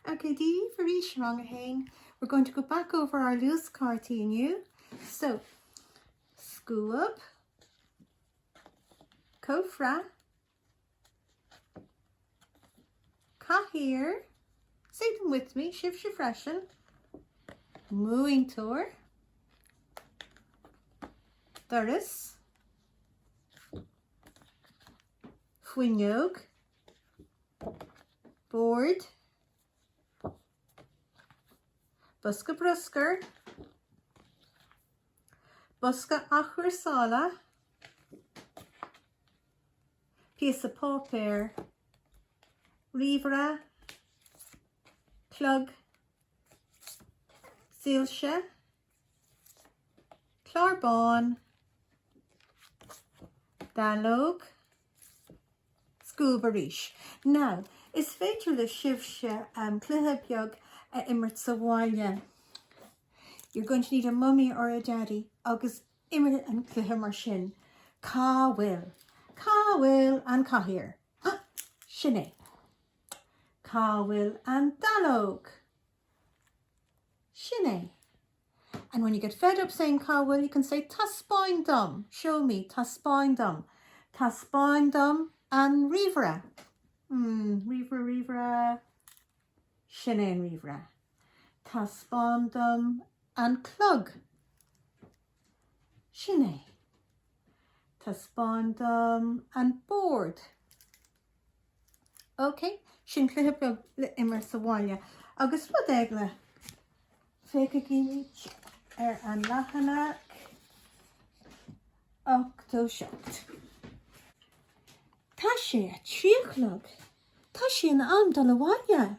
Ok Dia daoibh arís rang a haon we're going to go back over our loose cártaí inniu so scuab cófra cathaoir say them with me sibhse freisin múintóir doras fuinneog Bord, bosca bruscair, bosca athchúrsála, píosa páipéir, ríomhaire, clog, soilse. Clár bán, dallóg, scuab arís. Now, is féidir libhse cluiche beag a imirt sa bhaile. You're going to need a mummy or a daddy agus imir an cluiche mar sin. Cá bhfuil? Cá bhfuil an chathaoir? Sin é. Cá bhfuil an dallóg? Sin é. And when you get fed up saying cá bhfuil you can say taispeáin dom, show me, taispeáin dom, taispeáin dom an ríomhaire. Hmm, ríomhaire, ríomhaire. Sin é an ríomhaire. Taispeáin dom an clog. Sin é. Taispeáin dom an bord. Ok, sin cluiche beag le imirt sa bhaile agus rud eile, féachfaimid ar an leathanach 87. Tá sé a trí a chlog. Tá sé in am dul abhaile.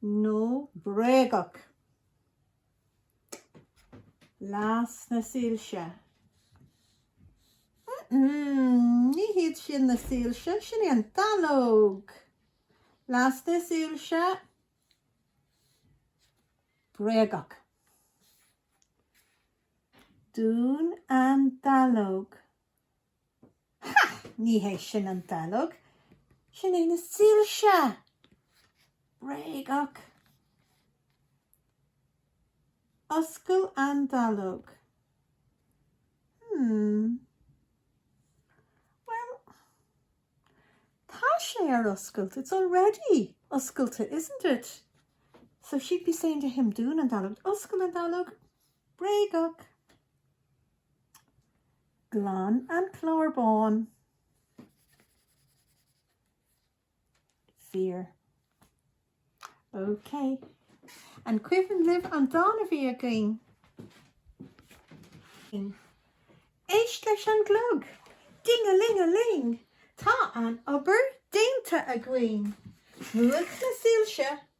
nó bréagach? Las na soilse? Ní hiad sin na soilse, sin í an dallóg! Las na soilse? Bréagach. Dún an dallóg. Ha! Ní hé sin an dallóg, sin é na soilse! Bréagach! Oscail an dallóg. Hmm. Bhuel, tá sé ar oscailt, it's already oscailte, isn't it? So she'd be saying to him, Dún an dallóg, Oscail an Dealg! Bréagach! Glan an clár bán. Fíor. OK. An cuimhin libh an dán a bhí againn? Éist leis an gclog! Ding-a-ling-a-ling! Tá an obair déanta againn! Múch na soilse!